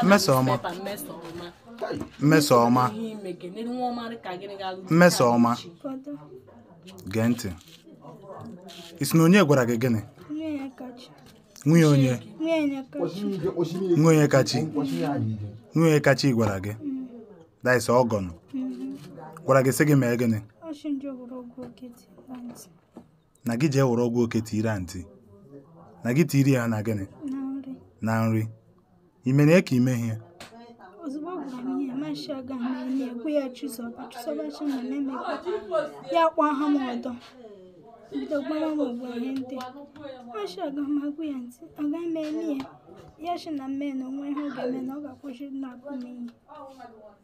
mmesoma mmesoma mmesoma gee ntị ị sị na onye gwara gị gịnị nwunye onye nwunye kachi nwunye kachi gwara gị that is ọgọnụ gwara gị sị gị mee gịnị na gị jee were ọgwụ oke tiiri antị na gị tiiri ya na gịnị na nri ime na ka ime ihe ozugbo ọ gwara m ihe mashi aga m enye ekwe ya chụzọba chụzọba chi na na-emekwa ya kpọọ ha m ọdọ bido gbara m ogbo ihe ndị mashi aga m agwụ ya ntị aga m enye ya ya shi na mme na onwe ihe ọ ga-eme na ọ ga-akwụsị na-akụ m ihe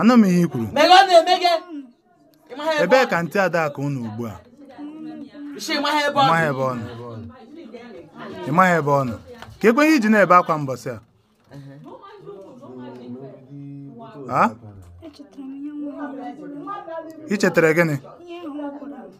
anụ m ihe i kwuru ebee ka antị adaku nọ ugbu a ịmaghị ebe ọ nọ ịmaghị ebe ọ nọ ka ekwe ihe iji na-ebe akwa mbọsị ahụ i chetara gịnị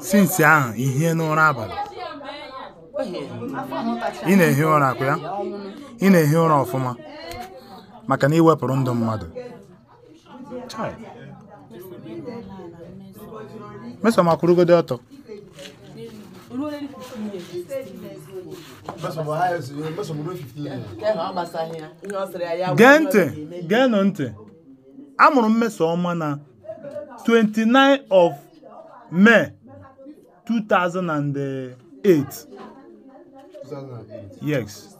since ahụ i hiena ụra abalị ị na-ehi ụra ọ kwa ya ị na-ehi ụra ọfụma maka na i wepụrụ ndụ mmadụ Chai. mmesoma kwụrụgodi ọtọ gee ntị geenụ ntị a mụrụ mmesoma na 29 of May 2008 yes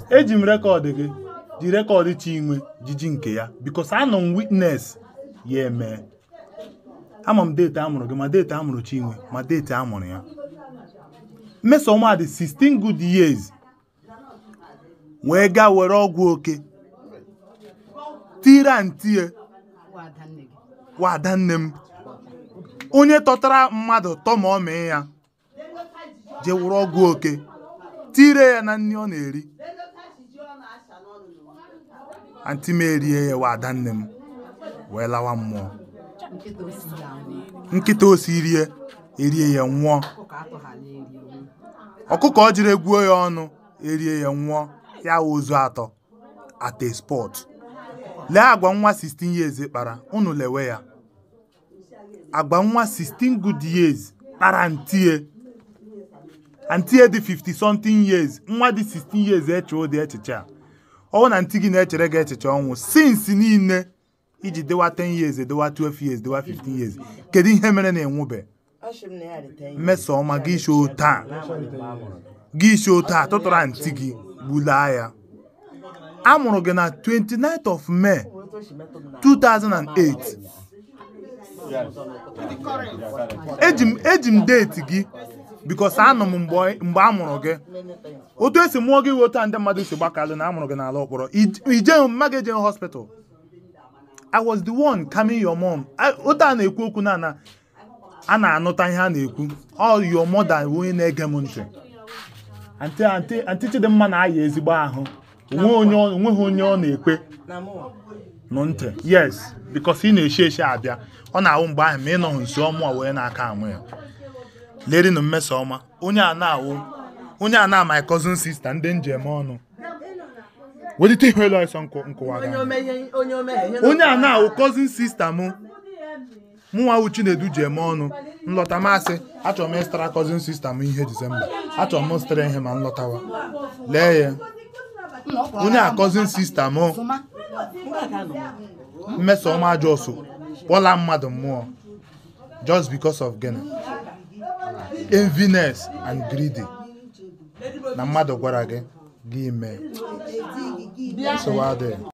eji m record gị ji record Chinwe jiji nke ya because anọ m witness ya emee ama m date a mụrụ gị ma date a mụrụ Chinwe ma date a mụrụ ya Mmesoma dị 16 good years wee gaa were ọgwụ oke tiiri antie nwa ada nne m onye tọtara mmadụ tọ mummy ya jee were ọgwụ oke tiiri ya na nri ọ na-eri anti m erie ya nwa ada nne m wee lawa mmụọ nkịta o siiri erie ya nwụọ ọkụkọ ọ jiri egwuo ya ọnụ erie ya nwụọ ya wụ ozu atọ at a spot lee agwa nwa 16 years kpara unu lewe ya agwa nwa 16 good years kpara antie antie dị 50 something years nwa dị 16 years eche ụdị echiche a ọ wụ na anti gị na-echere gị echiche ọnwụ since niile i ji dịwa 10 years dịwa 12 years dịwa 15 years kedu ihe mere na ị nwụbe Asị m na ya dị 10 years. mmeso ọma gị isi otu a N'agbanyeghị mgbe a mụrụ gị. gị isi otu a tụtụrụ ntị gị gbulaa ya a mụrụ gị na 29th of May Otu o si metụ m n'ahụ. 2008 eji m eji m deeti gị bikos anọ m mgbe ọ- mgbe a mụrụ gị Many things. otu esi mụọ gị otu a ndị mmadụ si gbakalụ na a mụrụ gị n'ala ọkpọrọ ije mma gị eje hospital i was the one coming your mom I- otu a na-ekwu okwu na na a na-anụta ihe a na-ekwu your mother onye na-ege m ntị antị Chidimma na-aya ezigbo ahụ onwe onye ọ- o nweghị onye ọ na-ekpe na mụ nụ ntị yes because ị na-eshi eshi abịa ọ na-awụ mgbe ahụ ma ị nọghị nso ọmụ a wee na-aka anwụ ya lerinu Mmesoma onye a na-awụ onye a na my cousin sister ndị m ji eme ọnụ welite ihu elu ọsọ nkụ- nkụwa gị onye anya. onye a na-awụ cousin sister m mụnwa wụ Chinedu ji eme ọnụ nlọta m asị achọrọ m ịzụtara cousin sister m ihe December achọrọ m ịzụtara ihe ma nlọtawa lee ya onye a cousin sister m Mmesoma a just gbuola mmadụ mụ o just because of gịnị enviness and greedy na mmadụ gwara gị gị mee nsogbu adịghị